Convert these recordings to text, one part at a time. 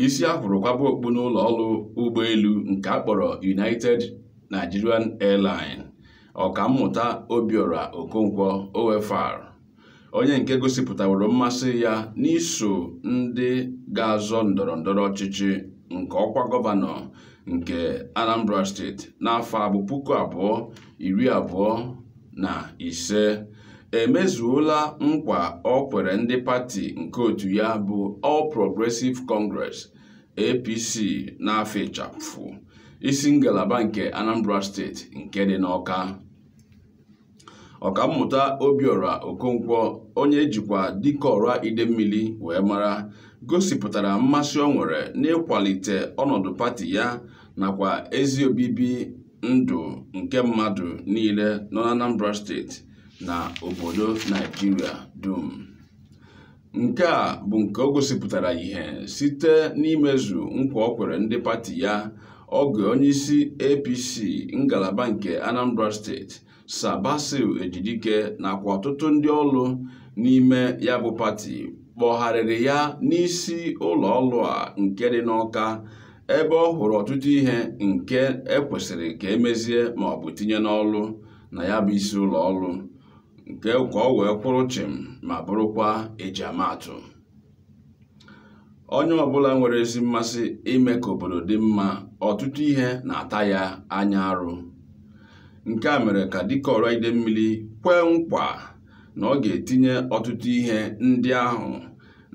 isi a hụrụ kwaba okpu n'ụlọ ọrụ ụgbọelu nke a kpọrọ United Nigerian Airline ọkammụta Obiora Okonkwo OFR onye nke gosipụtaworo mmasị ya n'iso ndị ga-azọ ndọrọ ndọrọ ọchịchị nke ọkwa gọvanọ nke Anambra steeti n'afọ a bụ puku abụọ iri abụọ na ise emezuola nkwa o kwere ndị pati nke otu ya bụ All Progressive Congress APC n'afa ịchafụ isi ngalaba nke Anambra steeti nke dị n'Ọka ọkammụta Obiora Okonkwo onye e jikwa Dikeọra Idemmili wee mara gosipụtara mmasị o nwere n'ịkwalite ọnọdụ pati ya nakwa ezi obibi ndụ nke mmadụ niile nọ n'Anambra steeti na obodo Naijiria dum nke a bụ nke o gosipụtara ihe site n'imezu nkwa o kwere ndị pati ya oge onyeisi APC ngalaba nke Anambra steeti Sir Basil Ejidike nakwa ọtụtụ ndị ọrụ n'ime ya bụ pati kpọgharịrị ya n'isi ụlọ ọrụ a nke dị n'Ọka ebe ọ hụrụ ọtụtụ ihe nke e kwesịrị ka e mezie ma ọ bụ tinye n'ọrụ na ya bụ isi ụlọ ọrụ nke ka ọ wee kwụrụ chịm ma bụrụkwa ejiamaatụ onye ọbụla nwere ezi mmasị ime ka obodo dị mma ọtụtụ ihe na-ata ya anya arụ nke a mere ka Dikeọra Idemmili kwee nkwa na ọ ga-etinye ọtụtụ ihe ndị ahụ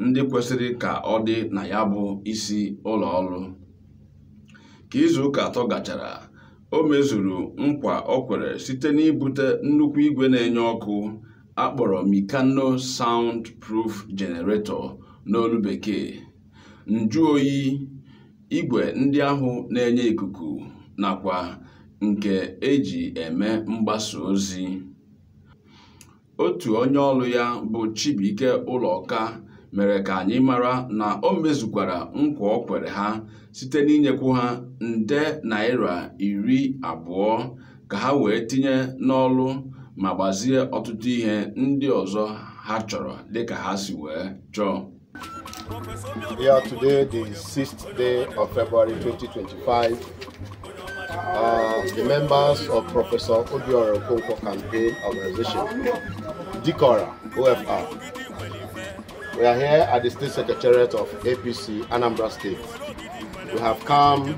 ndị kwesịrị ka ọ dị na ya bụ isi ụlọ ọrụ ka izu ụka atọ gachara o mezuru nkwa o kwere site n'ibute nnukwu igwe na-enye ọkụ a kpọrọ Mikano Sound Proof Generator n'olu bekee njụoyi igwe ndị ahụ na-enye ikuku nakwa nke e ji eme mgbasa ozi otu onye ọrụ ya bụ Chibuike Ụlọka mere ka anyị mara na o mezukwara nkwa o kwere ha site n'inyekwu ha nde naira iri abụọ ka ha wee tinye n'ọrụ ma gbazie ọtụtụ ihe ndị ọzọ ha chọrọ dịka ha si wee chọọ Yeah, today the 6th day of February 2025, uh, the members of Professor Obiora Okonkwo campaign organization, Dikeọra, OFR, we are here at the State Secretariat of APC Anambra State. We have come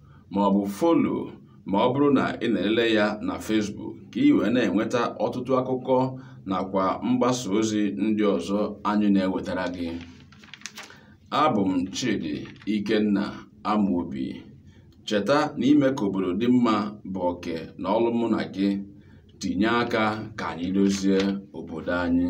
ma ọ bụ follow ma ọ bụrụ na ị na-elele ya na Facebook ka ị wee na-enweta ọtụtụ akụkọ nakwa mgbasa ozi ndị ọzọ anyị na-ewetara gị abụ m Chidi Ikenna Amobi cheta na ime ka obodo dị mma bụ oke na ọlụ mụ na gị tinye aka ka anyị dozie obodo anyị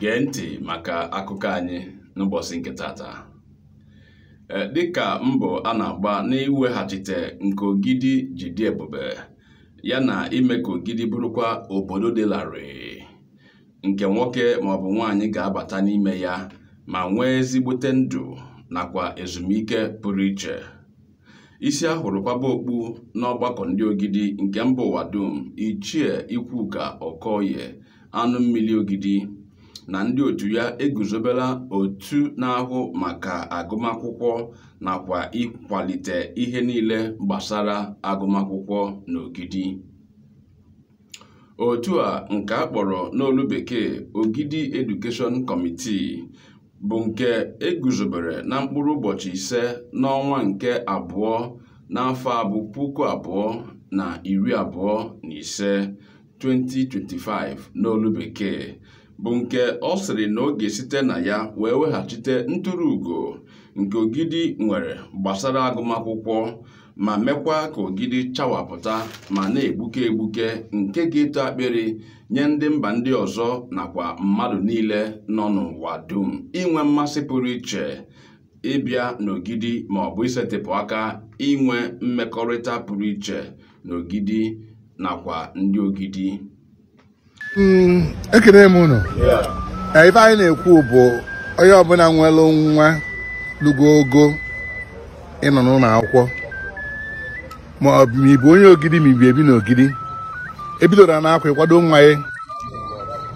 gee ntị maka akụkọ anyị n'ụbọchị nke taata dịka mbọ a na-agba n'iweghachite nke ogidi ji dị ebube ya na ime ka ogidi bụrụkwa obodo dị larịị nke nwoke maọbụ nwaanyị ga-abata n'ime ya ma nwee ezigbote ndụ nakwa ezumike pụrụ iche isi a hụrụ kwaba okpu n'ọgbakọ ndị ogidi nke mba ụwa dum ichie ikwuka okoye anụ mmili ogidi na ndị otu ya eguzobela otu na-ahụ maka agụmakwụkwọ nakwa ịkwalite ihe niile gbasara agụmakwụkwọ n'ogidi otu a nke a kpọrọ n'olu bekee Ogidi Education Committee bụ nke e guzobere na mkpụrụ ụbọchị ise n'ọnwa nke abụọ n'afọ a bụ puku abụọ na iri abụọ na ise 2025 n'olu bekee bụ nke ọ sịrị na ọ ga-esite na ya wee weghachite ntụrụ ugo nke Ogidi nwere gbasara agụmakwụkwọ ma mekwa ka Ogidi chawapụta ma na-egbuke egbuke nke ga-eto akpịrị nye ndị mba ndị ọzọ nakwa mmadụ niile nọ n'ụwa dum inwe mmasị pụrụ iche ịbịa n'Ogidi ma ọ bụ isetịpụ aka inwe mmekọrịta pụrụ iche n'Ogidi nakwa ndị Ogidi Mm, ekene m unu ife anyị na-ekwu bụ onye ọbụla nwere nwa lugo ogo ịnọ n'ụlọ akwụkwọ ma ọ bụ ma ị bụ onye ogidi ma i bi ebi na ogidi ebidoro na akwa ịkwado nwa ya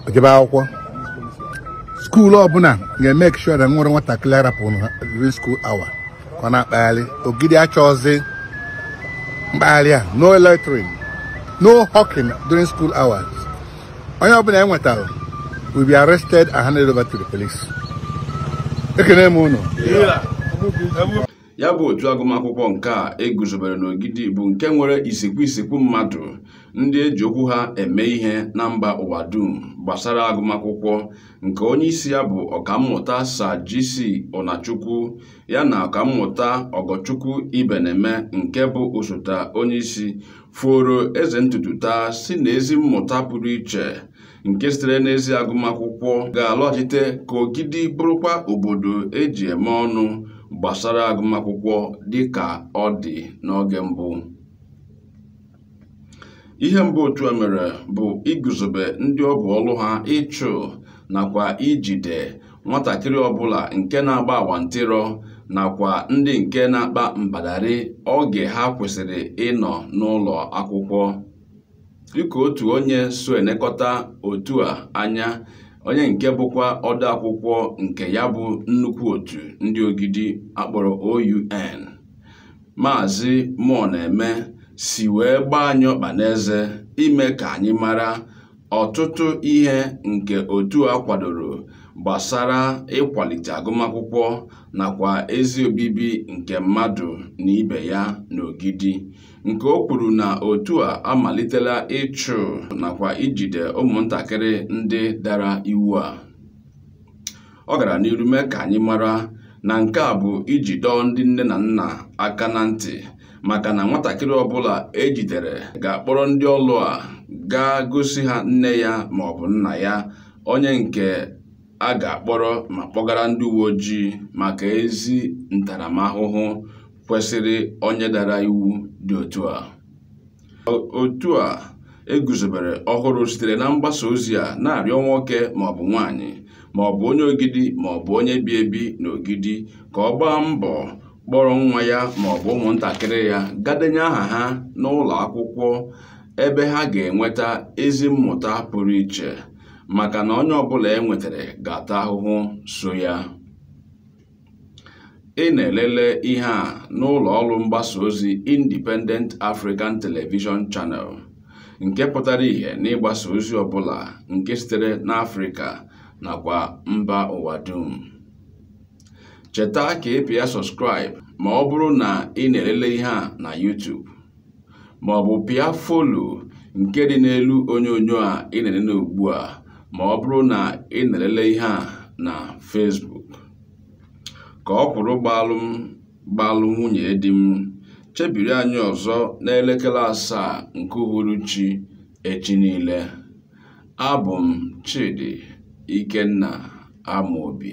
o jebe akwụkwọ school ọbụla ga-emake sure na e nwerọ nwatakịrị arapụ na school hour ka ọ na-akpagharị ogidi achọzi mkpagharị a no loitering no hawking during school hours onye ọbụla e nwetara will be arrested and handed over to the police ekene m unu ya bụ otu agụmakwụkwọ nke a e guzobere n'ogidi bụ nke nwere isikwu isikwu mmadụ ndị e ji okwu ha eme ihe na mba ụwa dum gbasara agụmakwụkwọ nke onye isi ya bụ ọkammụta Sir GC Onachukwu ya na ọkammụta Ọgọchukwu Ibeneme nke bụ osote onye isi foro eze ntutu taa sị na ezi mmụta pụrụ iche nke sitere n'ezi agụmakwụkwọ ga-alọghachite ka Ogidi bụrụkwa obodo eji eme ọnụ gbasara agụmakwụkwọ dịka ọ dị n'oge mbụ ihe mbụ otu a mere bụ iguzobe ndị ọ bụ ọlụ ha ịchụ nakwa ijide nwatakịrị ọbụla nke na-agba awantịrọ nakwa ndị nke na-akpa mbadari oge ha kwesịrị ịnọ n'ụlọ akwụkwọ dịka otu onye so elekọta otu a anya onye nke bụkwa ode akwụkwọ nke ya bụ nnukwu otu ndị Ogidi akpọrọ OUN Maazị Mụọneme si wee gbaa anyị ọkpa n'eze ime ka anyị mara ọtụtụ ihe nke otu a kwadoro gbasara ịkwalite agụmakwụkwọ nakwa ezi obibi nke mmadụ na ibe ya n'Ogidi nke o kwuru na otu a amalitela ịchụ nakwa ijide ụmụntakịrị ndị dara iwu a ọ gara n'iru mee ka anyị mara na nke a bụ iji dọọ ndị nne na nna aka na ntị maka na nwatakịrị ọbụla ejidere ga-akpọrọ ndị ọlụ a gaa gosi ha nne ya ma ọ bụ nna ya onye nke a ga-akpọrọ ma kpọgara ndị uwe ojii maka ezi ntaramahụhụ kwesịrị onye dara iwu dị otu a otu a eguzobere ọhụrụ sitere na mgbasa ozi a na-arịọ nwoke maọbụ nwaanyị maọbụ onye Ogidi maọbụ onye bi ebi n'Ogidi ka ọ gbaa mbọ kpọrọ nwa ya maọbụ ụmụntakịrị ya gaa denye aha ha n'ụlọ akwụkwọ ebe ha ga-enweta ezi mmụta pụrụ iche maka na onye ọbụla e nwetara ga-ata ahụhụ so ya Ị na-elele ihe a n'ụlọ ọrụ mgbasa ozi Independent African Television Channel nke pụtara ihe n'ịgbasa ozi ọbụla nke sitere n'Afrịka nakwa mba ụwa dum. Cheta ka ị pịa subscribe ma ọ bụrụ na ị na-elele ihe a na YouTube. ma ọ bụ pịa follow nke dị n'elu onyonyo a ị na-elele ugbu a ma ọ bụrụ na ị na-elele ihe a na Facebook ka ọkwụrụ gbalụ m gbalụ nwunye di m chebiri anyị ọzọ n'elekere asaa nke uhuruchi echi niile abụ m Chidi Ikenna Amobi